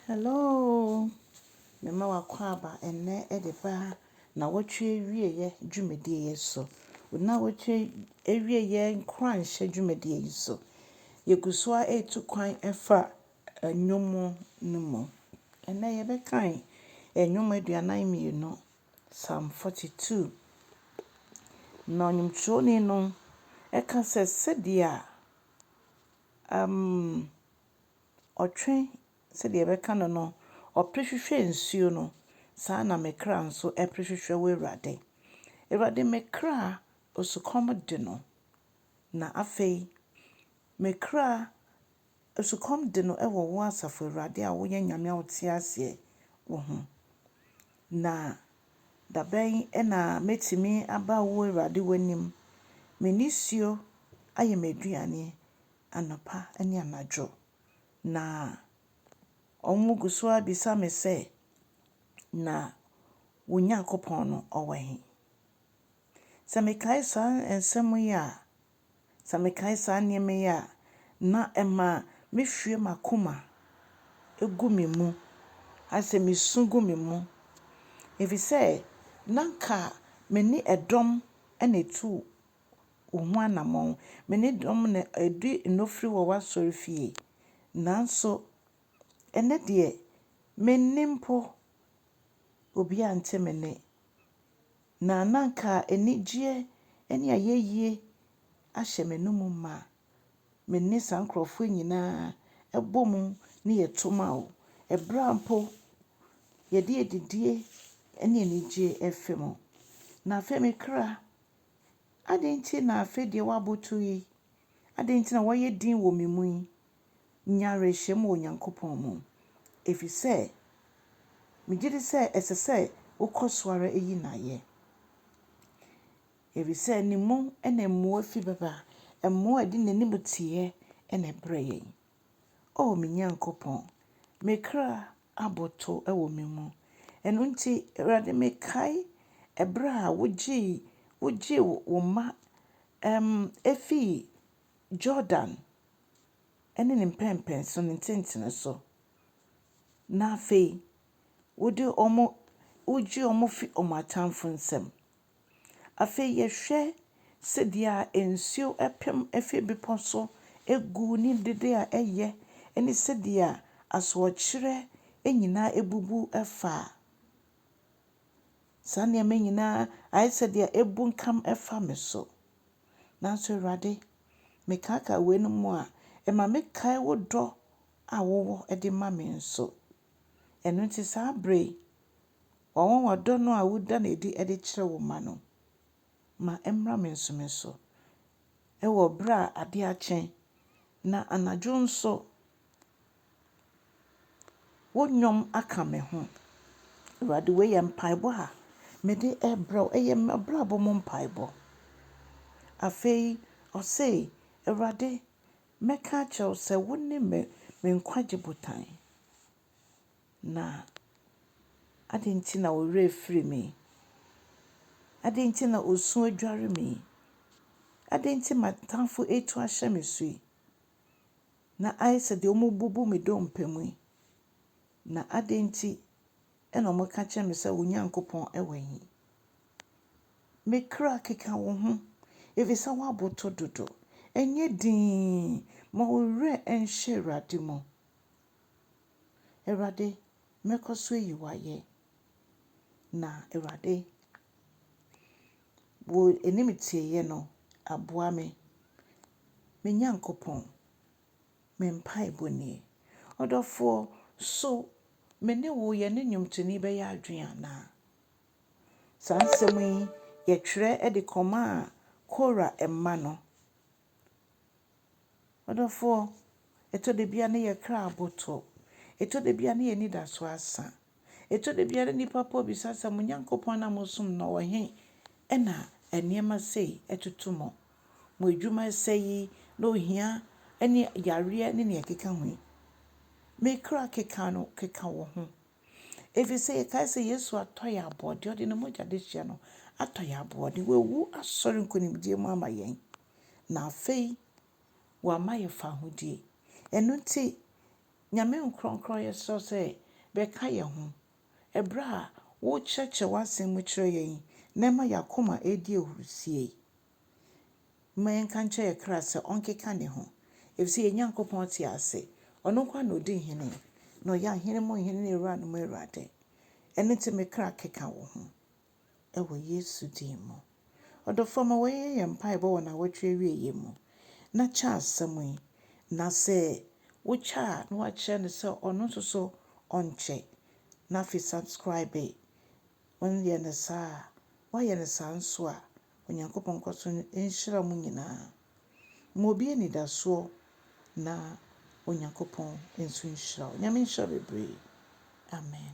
Hello! Mema w'akwaaba ɛnnɛ de ba nnawɔtwe awieɛ dwumadie yi so. Nnawɔtwe awieɛ nkuranhyɛ dwumadie yi so. Yɛgu so ara retu kwan fa nnwom no mu. Ɛnnɛ yɛbɛkan nnwom aduanan mmienu, Psalm 42. Na nnwomtwerɛni no ɛka sɛ, sɛdeɛ amm. Ɔtwe, sɛdeɛ yɛbɛka no no, ɔpere hwehwɛ nsuo no, saa ara na me kra nso pere hwehwɛ wo Awurade. Awurade, me kra osukɔm de no, na afei me kra osukɔm de no wɔ wo Asafo Awurade a woyɛ Nyame a wote aseɛ wo ho. Na dabɛn na mɛtumi aba wo Awurade w'anim? Me nisuo ayɛ m'aduane, anɔpa ne anadwo, na wɔgu so ara bisa me sɛ, Na wo Nyankopɔn no, ɔwɔ he? Sɛ mekae saa nsɛm yi a, sɛ mekae saa nneɛma yi a, na ɛma mehwie m'akoma gu me mu, ayɛ sɛ mesu gu me mu, efisɛ na anka me ne dɔm na etu wo ho anammɔn. Me ne dɔm na adi nnɔfiri wɔ w'asɔrefie. Nanso ɛnnɛ deɛ, me nne mpo, obiara nte me nne. Na na anka anigyeɛ ne ayɛyie ahyɛ m'anom ma. Me ne saa nkurɔfoɔ nyinaa bɔ mu ne yɛto ma wo. Ɛberɛ a mpo yɛde adidie ne anigyeɛ refe mo. Na afei me kra. Adɛn nti na afei deɛ woabotow yi? Adɛn nti na woayɛ dinn wɔ me mu yi? Nya awerɛhyem wɔ Onyankopɔn mu, efisɛ migye di sɛ ɛsɛ sɛ wokɔ so ara yi no ayɛ. Efisɛ ne mu na mmoa fi bɛba, mmoa a ɛde n'animteɛ na ɛbrɛ yɛn. O me Nyankopɔn, me kra abotow wɔ me mu. Ɛno nti, Awurade, mekae bere a wogyee wogyee wo mma um, efii Jordan ne ne mpɛnpɛnso, ne ntentene so, na afei wode wɔn, wogye wɔn fi wɔn atamfo nsam. Afei yɛhwɛ sɛdeɛ nsuo ɛpem firi bepɔ so gu ne dede a ɛyɛ ne sɛdeɛ asoɔkyerɛ nyinaa abubu afa saa nneɛma yi nyinaa ayɛ sɛ deɛ abunkam fa me so. Nanso Awurade, mekaakaa weinom a, ɛma mekae wo dɔ a wowɔ de ma me nso. Ɛno nti saa berɛ yi, Wɔn ɔdɔ no a woda no adi de kyerɛ wo mma no, ma ɛmmra me nso me so. Wɔ bere a ade akye, na anadwo nso wo nnwom aka me ho. Awurade, wei yɛ mpaebɔ a mede rebrɛ wo, ɛyɛ m'abrabɔ mu mpaebɔ. Afei ɔse, Awurade, mɛka akyerɛ wo sɛ wone me nkwagye botan. Na adɛn nti na wo werɛ firi me? Adɛn nti na osu adware me yi? Adɛn nti m'atamfo retu ahyɛ me so yi? Na ayɛ sɛ deɛ wɔbubu me dompe mu yi? Na adɛn nti na wɔka kyerɛ me sɛ wo Nyankopɔn wɔ he? Me kra keka wo ho, ɛfiri sɛ woaboto dodo. Nyɛ dinn, ma wo werɛ nhyɛ Awurade mu. Awurade, mɛkɔ so ayi wo ayɛ. Na Awurade, wo animtieyɛ no aboa me. Me Nyankopɔn, me mpaebɔ nie. Ɔdɔfoɔ, so me ne wo yɛne nnwomtoni bɛyɛ adwene anaa? Saa nsɛm yi yɛtwerɛ de kɔmaa Kora mma no. M'adɔfoɔ, ɛtɔ da bi a na yɛn kra aboto. Ɛtɔ da bi a na yɛn anidasoɔ asa. Ɛtɔ da bi a na nnipa pa bisa sɛ, Mo Nyankopɔn no a mosom no, ɔwɔ he na nneɛma sei toto mo? Mo adwuma sɛe yi, na ohia ne yareɛ ne deɛ ɛkeka ho yi, me kra keka no keka wɔ ho. Efisɛ yɛkae sɛ Yesu atɔ yɛn aboɔden, ɔde ne mogya dehyeɛ no atɔ yɛn aboɔden. Wawu asɔre nkonimdie mu ama yɛn, na afei wama yɛ fahodie. Ɛno nti, Nyame nkorɔnkorɔn yɛsrɛ wo sɛ bɛka yɛn ho ɛberɛ a wokyerɛkyerɛ w'asɛm mu kyerɛ yɛn yi na ɛma yɛn akoma ɛredi ahurusie. Momma yɛnka nkyerɛ yɛn kra sɛ ɔnkeka ne ho, efisɛ yɛn Nyankopɔn te ase. Ɔno nko ara na odi hene, na ɔyɛ ahene mu hene ne awuranom mu Awurade. Ɛno nti me kra, keka wo ho wɔ Yesu din mu. Ɔdɔfoɔ, ma wɔnyɛ yɛn mpaebɔ wɔ nnawɔtwe awieeɛ mu, na kyɛ asɛm yi, na sɛ wokyɛ a na woakyerɛ no sɛ ɔno nso so ɔnkyɛ, na afei subscribe. Wonyɛ no saa a, woayɛ no saa nso a, Onyankopɔn nkɔ so nhyira mo nyinaa. Ma obi anidasoɔ na Onyankopɔn nso nhyira wo. Nyame nhyira bebree. Amen.